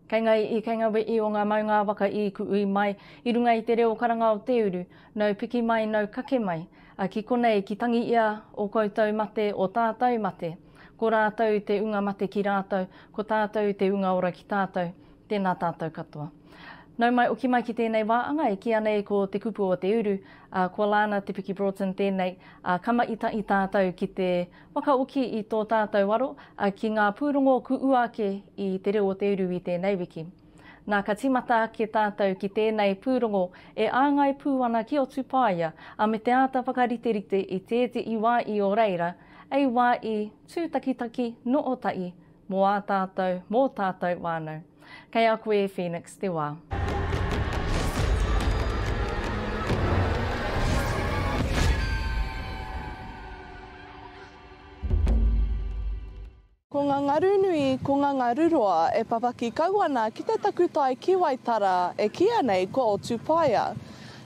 Kei ngā i, kei ngā we i o ngā maunga waka i ku ui mai, i runga i te reo karanga o te uru, nau piki mai, nau kake mai, a ki konei ki tangi ia o koutou mate, o tātou mate. Ko rātou te unga mate ki rātou, ko tātou te unga ora ki tātou. Tēnā tātou katoa. Nau mai oki mai ki tēnei wā anga e kīia nei ko Te Kupu o Te Uru, ā, kua Lana Te Piki Broughton tēnei, ā, ka maitai tātou ki te whakaoki i tō tātou aro, ā, ki ngā pūrongo ku ua ake i Te Reo o Te Uru i tēnei wiki. Nā, ka tīmata ake tātou ki tēnei pūrongo e āngai pū ana ki Otupaia, ā, me te āta whakariterite i tētehi wā i o reira, ei wā i tūtakitaki nō Otahi, Mō ā tātou, mō tātou whānau. Kei a koe e Phoenix te wā. Ko nga ngaru nui, ko nga ngaru roa e papaki kau ana ki te takutai ki Waitara, e kiia nei ko Otupaia.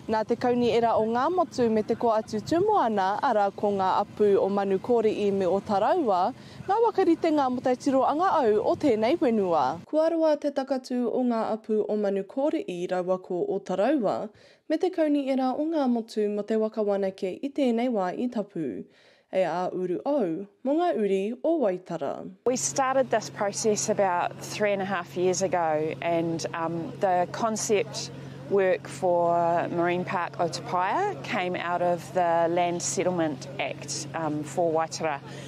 Na te kauni era o Ngamotu me te ko atu tumu ana, ara ko nga apu o Manukori'i me o Taraua, Ngā waka ritenga mō te tiro anga au o tēnei whenua. Kua roa te takatū o ngā apu o Manukōriʻi raua ko Otaraua, me te kauniera o ngā motu mō te waka wānake i tēnei wā i tapu. E ā uru au mō ngā uri o Waitara. We started this process about three and a half years ago and um the concept work for Marine Park Otapaia came out of the Land Settlement Act um for Waitara.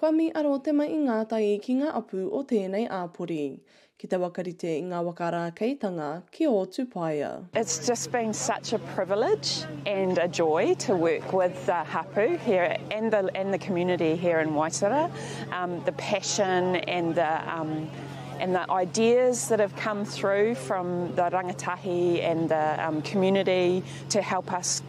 Kua mi aro te ma i ngā tai ki ngā apu o tēnei āpori. Ki te wakarite i ngā waka rākeitanga ki ō tupaia. It's just been such a privilege and a joy to work with the hapu here and the and the community here in Waitara. Um the passion and the um and the ideas that have come through from the rangatahi and the um community to help us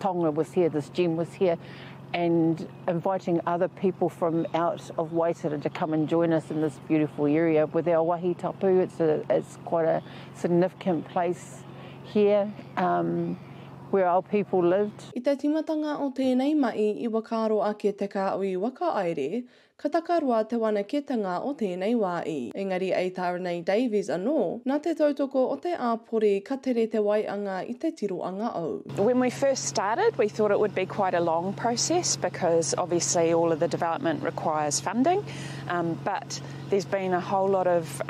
Tonga was here, this gem was here, and inviting other people from out of Waitara to come and join us in this beautiful area with our wahi tapu, it's a it's quite a significant place here um, where our people lived. I te timatanga o tēnei mahi i whakaaro ake te kāhui whakahaere Ka takaroa te whanaketanga o tēnei wā i. Engari a Taranei Davies anō, nā te tautoko o te āpori ka tere te waianga i te tiroanga o. When we first started we thought it would be quite a long process because obviously all of the development requires funding but there's been a whole lot of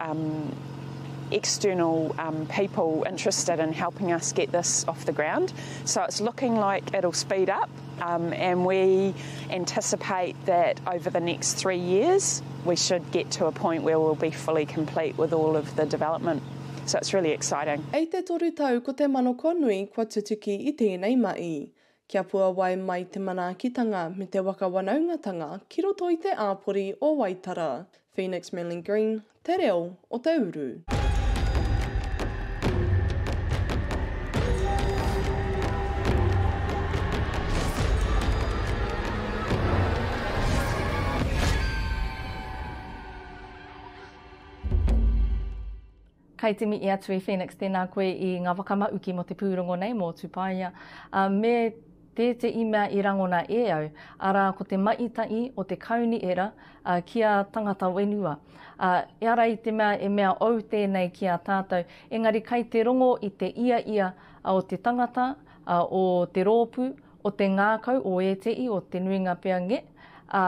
external people interested in helping us get this off the ground so it's looking like it'll speed up. And we anticipate that over the next three years we should get to a point where we'll be fully complete with all of the development. So it's really exciting. I te toru tau ko te manoko nui kua tutuki i tēnei mahi. Kia puawai mai te manaakitanga me te waka wanaungatanga ki roto i te āpori o Waitara. Phoenix Manly Green, Te reo o te uru. Kei te mihi atu e Phoenix, tēnā koe i ngā whakamauki mō te pūrongo nei mō Tupaia. Me Tētehi mea i rangona e au, arā ko te mahi tahi o te Kauniera ki a tangata whenua. Ā, ehara i te mea e mea ou tēnei ki a tātou, engari kai te rongo i te ia ia o te tangata, o te rōpū, o te ngākau o ētehi, o te nuinga pea nge, ā,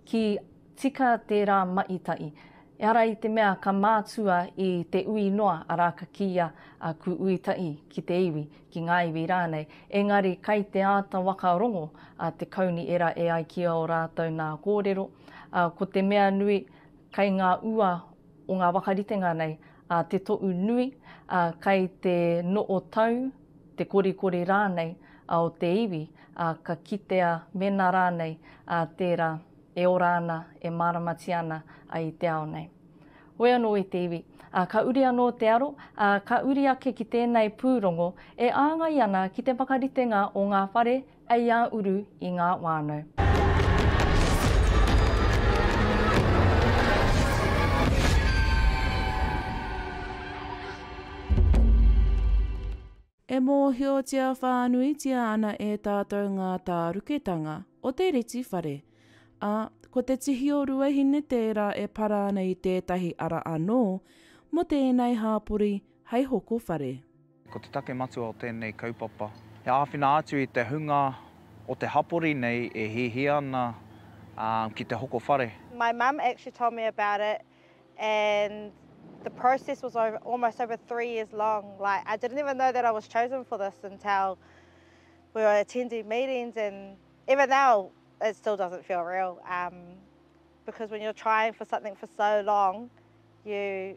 Ki tika tērā maʻitaʻi. Ehara i te mea ka mātua i te ui noa, arā ka kīia a Ku Uitaʻi ki te iwi, ki ngā iwi rānei, engari kai te āta waka rongo a te kauni era e ai ki ō rātou nā kōrero, ā, ko te mea nui, kai ngā ua o ngā wakaritenga nei a Te Toʻu Nui, a kai te noo tau, te korikori raanei a o te iwi, a ka kitea mena raanei a teera e ora ana, e maaramatia ana a i te ao nei. Hoi anoo i te iwi, a ka uri anoo te aro, a ka uri ake ki teenei puurongo e aangai ana ki te whakaritenga o ngaa whare A ia uru i ngā whānau. E mōhiotia whānuitia ana e tātou ngā tāruketanga o te reti whare, ā, ko te tihi o Ruahine tērā e para ana i tētahi ara anō mō tēnei hāpori hei hoko whare. Ko te take matua o tēnei kaupapa, he āwhina atu i te hunga o te hapori nei e hiahia ana ki te hoko whare. My mum actually told me about it and the process was almost over three years long like I didn't even know that I was chosen for this until we were attending meetings and even now it still doesn't feel real because when you're trying for something for so long you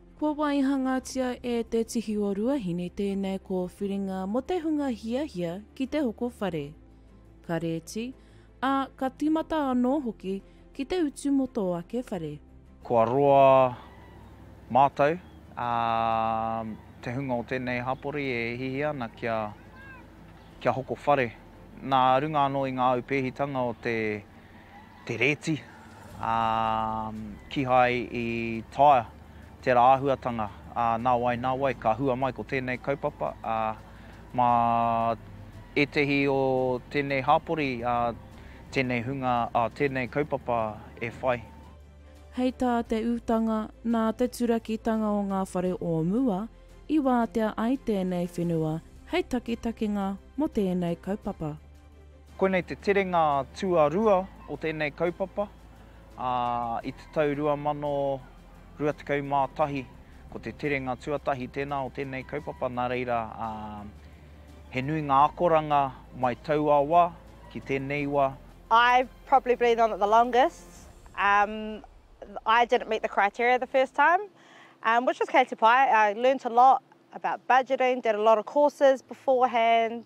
Kua waihangatia e Te Tihi o Ruahine tēnei kōwhiringa mō te hunga hiahia ki te hoko whare, ka rēti, ā, ka tīmata anō hoki ki te utu mō tō ake whare. Kua roa mātou, ā, te hunga o tēnei hapori e hiahia ana kia, kia hoko whare nā runga anō i ngā aupēhitanga o te. te rēti, ā, kīhai i taea tērā āhuatanga, ā, nā wai, nā wai, ka hua mai ko tēnei kaupapa, ā, mā ētehi o tēnei hāpori, ā, tēnei hunga, ā, tēnei kaupapa e whai. Hei tā te utanga, nā te turakitanga o ngā whare o mua i wātea ai tēnei whenua hei takitakinga mō tēnei kaupapa. Koinei te terenga tuarua o tēnei kaupapa, ā, i te tau 2021, ko te terenga tuatahi tēnā o tēnei kaupapa, nā reira, ā, he nui ngā akoranga mai taua wā ki tēnei wā. I've probably been on it the longest, um, I didn't meet the criteria the first time, um, which was kei te pai, I learnt a lot about budgeting, did a lot of courses beforehand,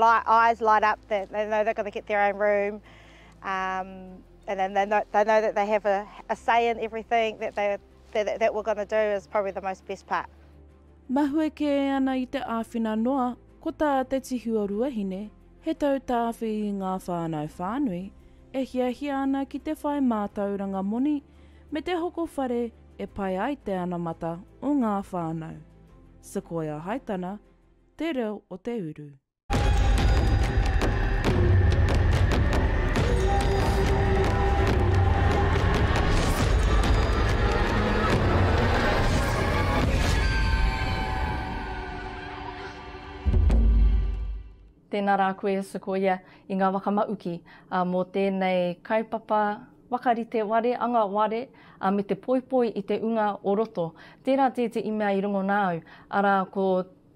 eyes light up that they know they're going to get their own room um, and then they know, they know that they have a, a say in everything that, they, that, that we're going to do is probably the most best part. Mahue kē ana i te āwhina noa, ko tā te tihi o Ruahine, he tautāwhi i ngā whānau whānui, e hiahia ana ki te whai mātauranga moni me te hoko whare e pai ai te anamata o ngā whānau. Sequoia Haitana, Te Reo o te Uru. Tēnā rā koe Sequoia i ngā waka mauki mō tēnei kaupapa. Whakarite ware, anga ware, ā, me te poipoi i te unga o roto. Tērā tētehi mea i rongo nā au, arā, ko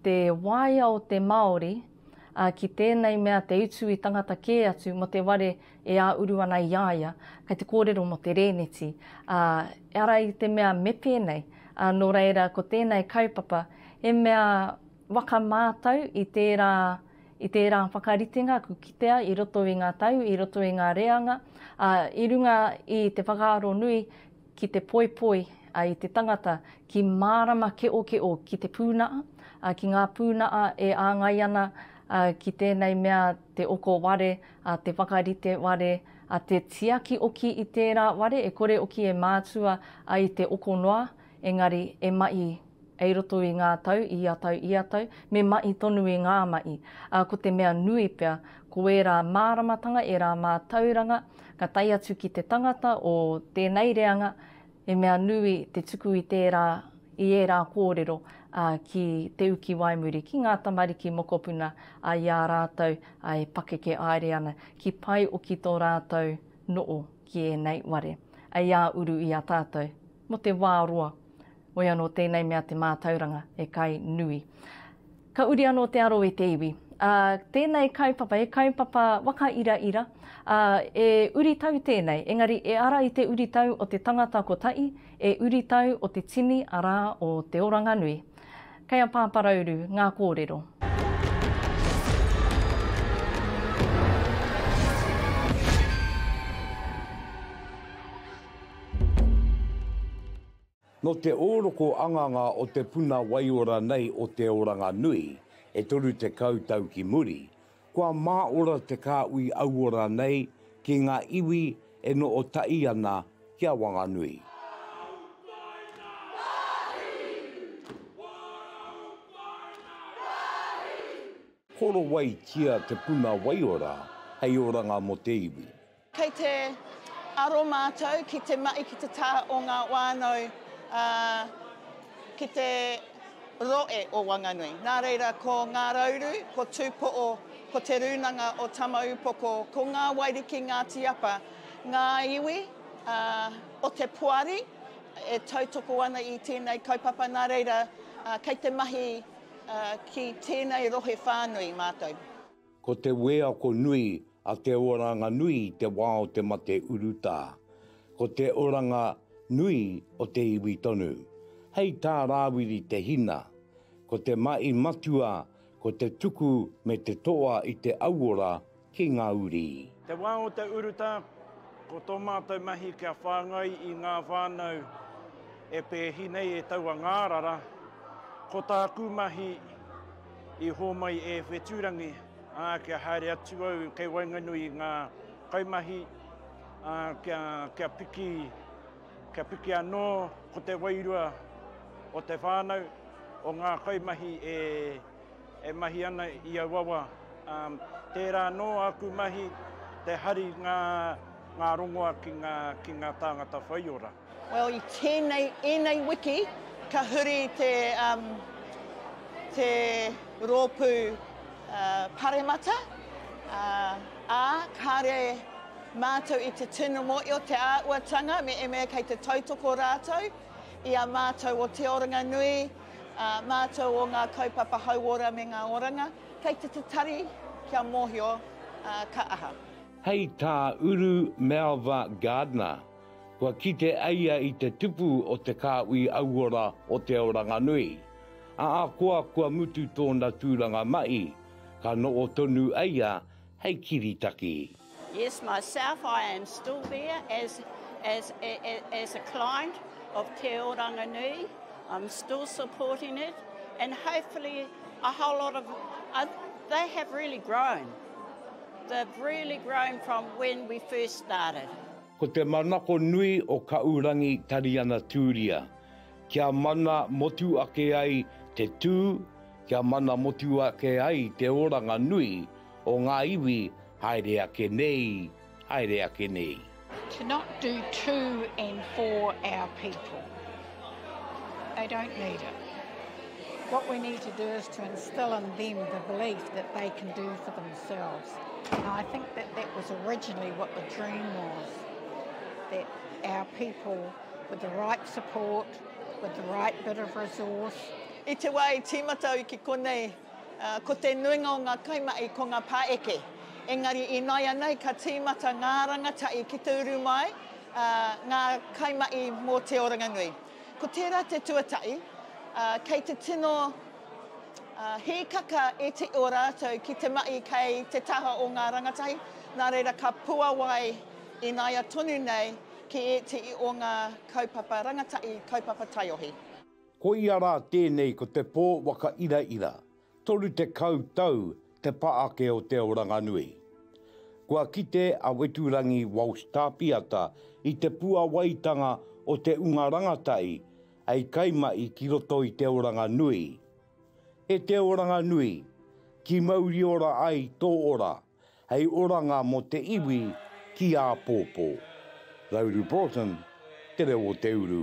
te waea o te Māori, ā, ki tēnei mea te utu i tangata kē atu mō te ware e ā-uru ana i a ia, kei te kōrero mō te rēneti, ā, arā i te mea me pēnei, ā, nō reira ko tēnei kaupapa he mea whakamātau i tērā I tērā whakaritenga ka kitea i roto i ngā tau, i roto i ngā reanga, ā, i runga i te whakaaro nui ki te poipoi i te tangata ki mārama keʻokeʻo ki te pūnaʻa, ā, ki ngā pūnaʻa e āngai ana ki tēnei mea te oko ware, ā, te whakarite ware, ā, te tiaki oki i tērā ware e kore oki e mātua ai te oko noa, Engari, e maʻi ei roto i ngā tau, i ia tau, i ia tau, me maʻi tonu i ngā maʻi, ā, ko te mea nui pea, ko ērā māramatanga, ērā mātauranga, ka tae atu ki te tangata o tēnei reanga, he mea nui te tuku i tērā, i ērā kōrero, ā, ki te uki waimuri, ki ngā tamariki mokopuna, ā, i a rātou, ā, e pakeke aere ana, ki pae oki tō rātou noo ki ēnei ware, ei ā uru i a tātou, Mo te wā roa. Woi anō tēnei mea te mātauranga e kai nui. Ka uri anō te aro i te iwi. Ā, tēnei kaupapa, he kaupapa waka ira ira, ā, e uri tau tēnei, engari e ara i te uri tau o te tangata kotahi, e uri tau o te tini, arā, o Te Oranganui. Kei a Pāparauru ngā kōrero. Nō te ōroko anganga o te puna waiora nei o te oranga nui, e 30 tau ki muri, Kua māora te kāhui auora nei ki ngā iwi e noho tahi ana ki a Wanganui. Korowaitia te puna waiora hei oranga mō te iwi. Kei te aro mātou ki te mahi ki te taha o ngā whānau, ā, ki te rohe o Wanganui. Nā reira, ko Ngā Rauru, ko Tūpoʻo, ko Te Rūnanga o Tamaūpoko, ko Ngā Wairiki Ngāti Apa, ngā iwi, ā, o te poari e tautoko ana i tēnei kaupapa, nā reira, ā, kei te mahi, ā, ki tēnei rohe whānui mātou. Ko te wēako nui a te oranga nui i te wā o te mate urutā. Ko te oranga nui o te iwi tonu. Hei tā Rāwiri Te Hina, Ko te mahi matua ko te tuku me te toa i te auora ki ngā uri. Te wā o te urutā, ko tō mātou mahi kia whāngai i ngā whānau e pēhi nei e taua ngārara. Ko tāku mahi I hōmai e Whetūrangi, ā, kia haere atu au kei waenganui i ngā kaimahi, ā, kia, kia piki, kia piki anō ko te wairua o te whānau, o ngā kaimahi e, e mahi ana i auawa. Ā, tērā anō āku mahi, te hari ngā, ngā rongoa ki ngā, ki ngā tāngata whaiora. Well i tēnei, ēnei wiki ka huri te um, te rōpū uh, paremata, uh, ā, kāre mātou i te tino mōi o te āuatanga me eme kei te tautoko rātou i a mātou o Te Oranga Nui, uh, mātou o ngā kaupapa hauora me ngā oranga, kei te te tari kia mōhio uh, ka aha. Hei tā Uru Melva Gardner. Kua kite a ia i te tupu o te kāhui auora o Te Aoranganui. Ahakoa kua mutu tōna tūranga mahi, ka noho tonu a ia hei kiritaki. Yes myself I am still there as as as a client of Te Aoranganui I'm still supporting it and hopefully a whole lot of uh, they have really grown they've really grown from when we first started Ko te manako nui o Kaʻurangi Tariana Tūria, kia mana motu ake ai te tū, kia mana motu ake ai te oranga nui o ngā iwi haere ake nei, haere ake nei. To not do too and for our people. They don't need it. What we need to do is to instill in them the belief that they can do for themselves. And I think that that was originally what the dream was, that our people, with the right support, with the right bit of resource. I te wā i tīmata au ki konei, uh, ko te nuinga o ngā kaimahi ko ngā pāeke. Engari i nāianei ka tīmata ngā rangatahi ki te uru mai, ā, ngā kaimahi mō Te Oranganui. Ko tērā te tuatahi, ā, kei te tino, ā, hīkaka iti o rātou ki te mahi kei te taha o ngā rangatahi, nā reira ka puawai ināia tonu nei ki ētehi o ngā kaupapa rangatahi, kaupapa taiohi. Koia rā tēnei ko te pō waka iraira, 30 tau te pa ake o Te Oranganui. Kua kite a Weturangi Walsh Tāpiata i te puawaitanga o te unga rangatahi hei kaimahi ki roto i Te Oranganui. E Te Oranganui, ki mauri ora ai tō ora, hei oranga mō te iwi ki āpōpō. Rauru Broughton, Te Reo o Te Uru.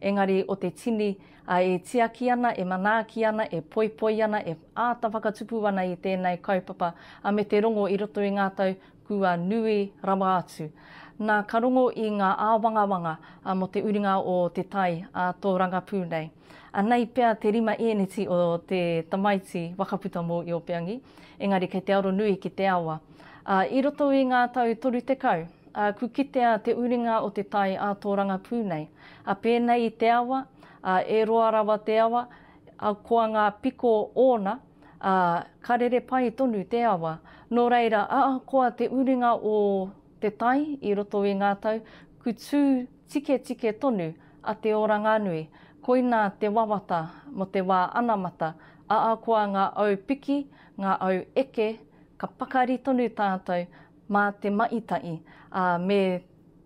Engari o te tini, a, e tiaki ana, e manaaki ana, e poipoi ana, e āta whakatupu ana i tēnei kaupapa, a me te rongo i roto i ngā tau kua nui rawa atu. Na, ka rongo i ngā āwangawanga, a, mo te uringa o te tai a tō rangapū nei. Anei pea te rima ēneti o te tamaiti wakaputa mō Iopeangi, engari kei te aro nui ki te awa. A, i roto i ngā tau toru tekau, Ā, ku kitea te uringa o te tai ā tō rangapū nei, ā, pēnei i te awa, ā, e roa rawa te awa, ā, koa ngā piko ōna, ā, ka rere pai tonu te awa. Nō reira, ahakoa te uringa o te tai i roto i ngā tau, ku tū tiketike tonu a Te Oranganui, koinā te wawata mō te wā anamata, ahakoa ngā au piki, ngā au eke, ka pakari tonu tātou, Mā te maʻi taʻi, ā, me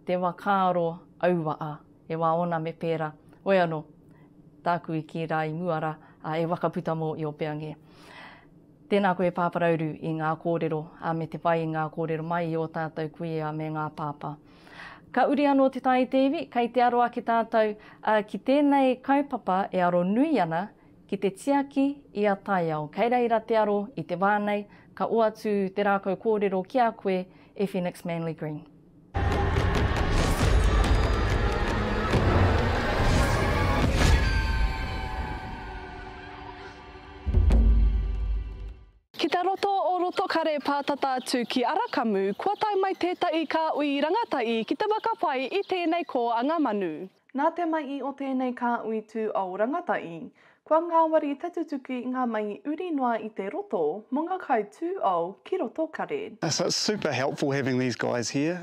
te wa kāro auwa, ā, e wā ona me pērā. Oe anō, tāku i kī rā i mua rā, ā, e waka puta mō i o Peange. Tēnā koe Pāparauru i ngā kōrero, ā, me te whai i ngā kōrero mai i o tātou kuia me ngā pāpā. Ka uri anō te tae i te iwi, kei te aro ake tātou, ā, ki tēnei kaupapa e aro nui ana Ki te tiaki i a taiao kei reira te aro i te wā nei, ka oatu te rākau kōrero ki a koe e Phoenix Manly Green. Ki te roto o Rotokare pā tata atu ki Arakamu, kua tae mai tētahi kāhui rangatahi ki te whakapai i tēnei kōanga manu. Nā te mahi o tēnei kāhui tū ao rangatahi, kua ngāwari te tutuki i ngā mahi uri noa i te roto mō ngā kai tū ao ki roto kare. So it's super helpful having these guys here,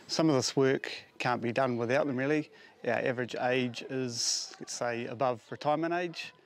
some of this work can't be done without them really, our average age is let's say above retirement age,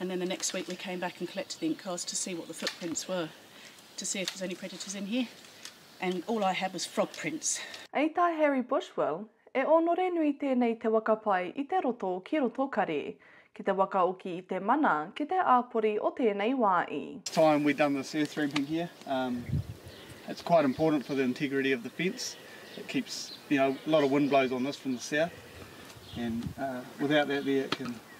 And then the next week we came back and collected the ink cards to see what the footprints were, to see if there's any predators in here. And all I had was frog prints. Ei tā Harry Bushwell, e ōnore nui tēnei te waka pai i te roto ki roto kari, ki te waka oki i te mana ki te āpori o tēnei wā i. time we done this earth ramping here um it's quite important for the integrity of the fence it keeps you know a lot of wind blows on this from the south and uh without that there it can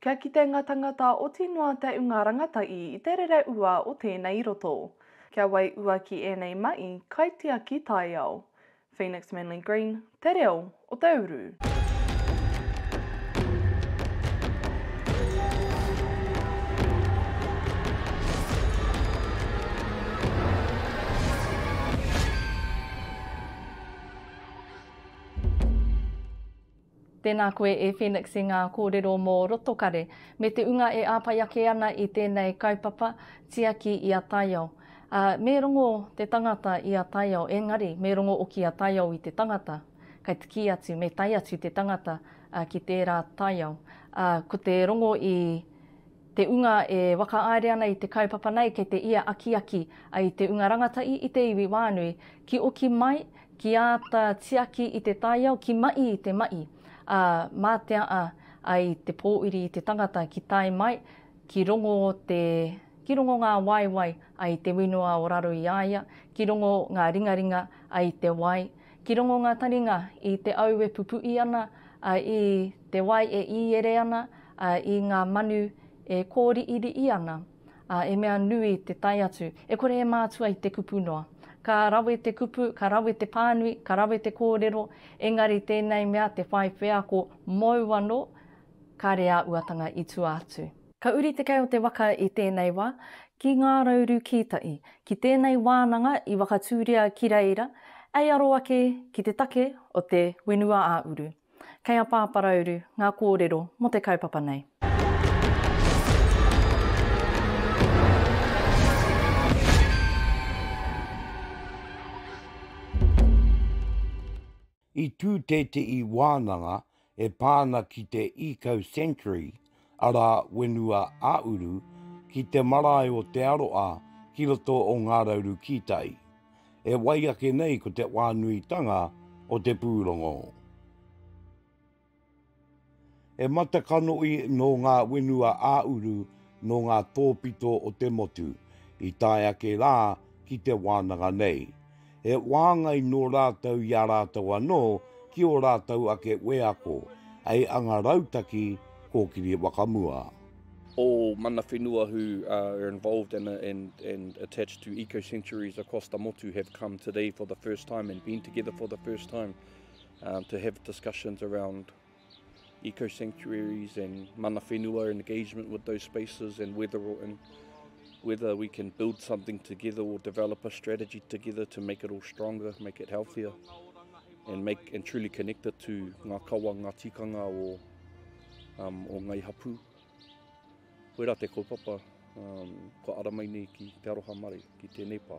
Kia kite nga tangata oti noa te unga rangatai i te rere ua o tenei roto. Kia wai ua ki enei mai, kaitiaki taiao. Phoenix Manly Green, Te Reo o te Uru. Tēnā koe e Phoenix i ngā kōrero mō Rotokare me te unga e āpai ake ana i tēnei kaupapa tiaki i a taiao. Ā, me rongo te tangata i a taiao, engari me rongo oki a taiao i te tangata. Kai te kī atu, me tae atu te tangata ki tērā taiao. Ā, ko te rongo i. Te Unga e whakaaere ana i te kaupapa nei kei te ia akiaki ai te Unga Rangatahi i te iwi whānui ki oki mai, ki āta tiaki i te taiao, ki maʻi i te maʻi, ā, mā te aa ai te pōuri i te tangata ki tae mai, ki rongo te, ki rongo ngā waewae ai te winoa o raro i a ia, ki rongo ngā ringaringa ai te wai, Ki rongo ngā taringa i te au e pupuʻi ana, a, i te wai e īere ana, a, i ngā manu e kōriʻiriʻi ana, a, e mea nui te tae atu, e kore e mātua i te kupu noa. Ka rawe te kupu, ka rawe te pānui, ka rawe te kōrero, engari tēnei mea te whai wheako mōu anō, kāre ā uatanga i tua atu. Ka uri te kei o te waka i tēnei wā, ki Ngā Rauru Kītai, ki tēnei wānanga i Wakatūria ki reira, ei aro ake ki te take o te Whenua-ā-uru. Kei a Pāparauru ngā kōrero mō te kaupapa nei. I tū tētehi wānanga e pā ana ki te Eco Sanctuary, arā, whenua ā-uru, ki te marae o Te Aroa ki roto o Ngā Rauru Kītai. E wai ake nei ko te whānuitanga o te pūrongo. He matakanohi nō ngā whenua ā-uru nō ngā tōpito o te motu i tae ake rā ki te wānanga nei. He whāngai nō rātou i a rātou anō ki ō rātou ake wheako, hei anga rautaki kōkiri whakamua. All mana whenua who are involved and and attached to Eco Centuries across the motu have come today for the first time and been together for the first time. um, to have discussions around eco sanctuaries and mana whenua and engagement with those spaces and whether or in, whether we can build something together or develop a strategy together to make it all stronger, make it healthier and make and truly connect it to ngā kawa, ngā tikanga o, um, o ngai hapu. Koe rā te kaupapa, um, ko aramai nei ki Te Aroha Mare, ki tēnei pā.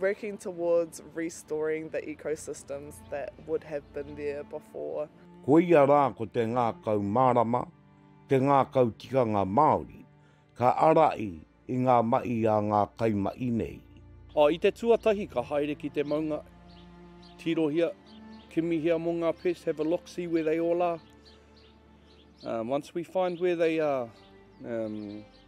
Working towards restoring the ecosystems that would have been there before. Koia rā ko te ngākau mārama, te ngākau tikanga Māori, ka ārahi i ngā mahi a ngā kaimahi nei. I te tuatahi ka haere ki te maunga, tirohia, kimihia mō ngā pests, have a look, see where they all are. Once we find where they are,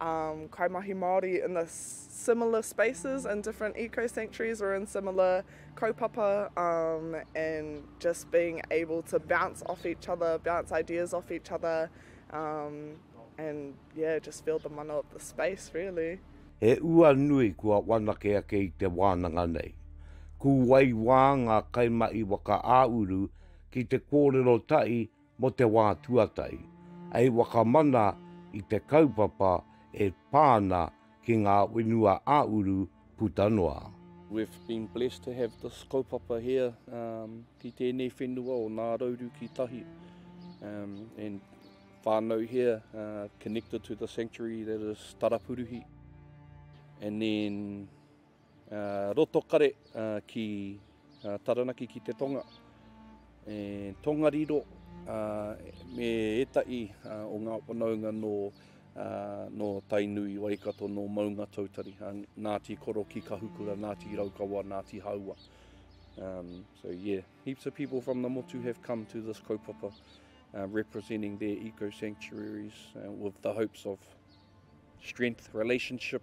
um, kaimahi Māori in the similar spaces in different eco sanctuaries or in similar kaupapa um, and just being able to bounce off each other, bounce ideas off each other um, and yeah, just feel the mana of the space really. He ua nui kua wanake ake i te wānanga nei. Kūwai wā ngā kaimahi waka ā-uru ki te kōrero tahi Mō te wā tuatahi, hei whakamana i te kaupapa e pā ana ki ngā whenua ā-uru puta noa. We've been blessed to have this kaupapa here ki tēnei whenua o Ngā Rauru ki Tahi and whānau here connected to the sanctuary that is Tarapuruhi and then Roto kare ki Taranaki ki te tonga, e Tongariro me etahi o nga whanaunga no no Tainui, Waikato, no Maungatautari, Ngati Koro ki Kahukura, Ngati Raukawa, Ngati Haua. Um, so yeah, heaps of people from the Motu have come to this kaupapa uh, representing their eco-sanctuaries uh, with the hopes of strength, relationship,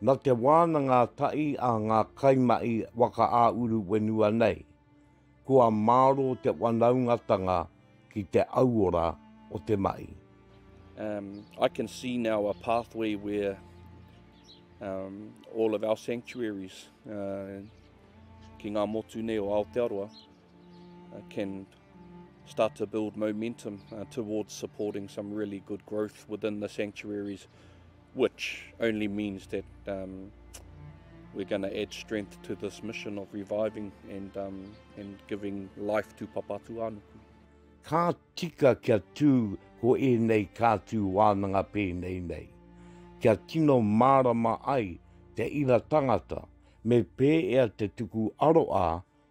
Na te wānanga tahi a ngā kaimahi waka-ā-uru whenua nei, kua māro te wanaungatanga ki te auora o te mahi. Um, I can see now a pathway where um, all of our sanctuaries uh, ki ngā motu nei o Aotearoa, uh, can start to build momentum uh, towards supporting some really good growth within the sanctuaries, which only means that um, we're going to add strength to this mission of reviving and, um, and giving life to Papatūānuku. Ka tika kia tū ko ēnei kātū wānanga pēnei nei, kia tino mārama ai te ira tangata, me pēea te tuku aroā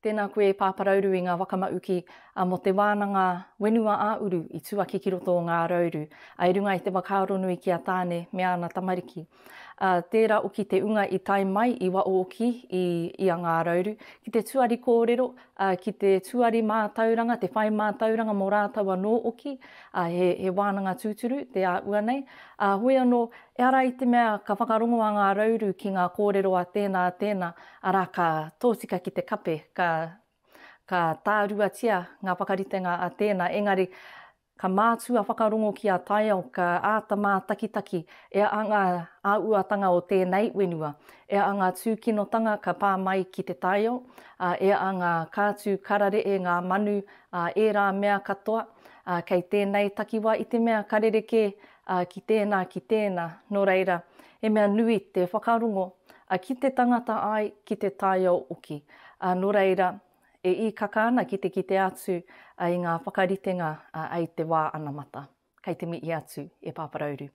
Tēnā koe Pāparauru i ngā wakamauki mō te wānanga whenua ā-uru i tuaki ki roto o Ngārauru i runga i te whakaaronui ki a Tāne me āna tamariki. Tērā oki te unga i tae mai i Waooki i a Ngārauru ki te tuari kōrero, ki te tuari mātauranga, te whai mātauranga mō rātou anō oki, he wānanga tūturu te a ua nei. Hoi anō, ehara i te mea ka whakarongo a Ngārauru ki ngā kōrero a tēnā, a tēnā, Arā, ka tōtika ki te kape, ka, ka tāruatia ngā whakaritenga a tēnā, engari, ka mātua whakarongo ki a taiao, ka āta mātakitaki e a ngā āuatanga o tēnei whenua, e a ngā tūkinotanga ka pā mai ki te taiao, ā, e a ngā kātū kararehe, ngā manu, ā, ērā mea katoa, ā, kei tēnei takiwā i te mea ka rerekē Ā, ki tēnā, ki tēnā, nō reira, he mea nui te whakarongo, ā, ki te tangata ai, ki te taiao hoki. Ā, nō reira, e īkaka ana ki te kite atu i ngā whakaritenga i te wā anamata. Kei te mihi atu e Pāparauru.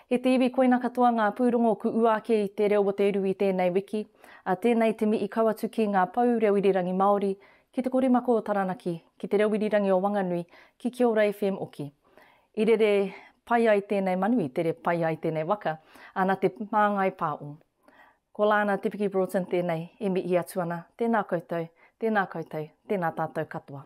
He te iwi koina katoa ngā pūrongo ku ua ake i Te Reo o te Rū i tēnei wiki. Ā, tēnei te mihi kau atu ki ngā pou reo irirangi Māori, ki Te Korimako o Taranaki, ki Te Reo Irirangi o Wanganui, ki Kiora FM hoki. I rere pai ai tēnei manu, i tere pai ai tēnei waka, ā, nā te māngai pā o. Ko Lana Te Piki Broughton tēnei e mihi atu ana, tēnā koutou, tēnā koutou, tēnā tātou katoa.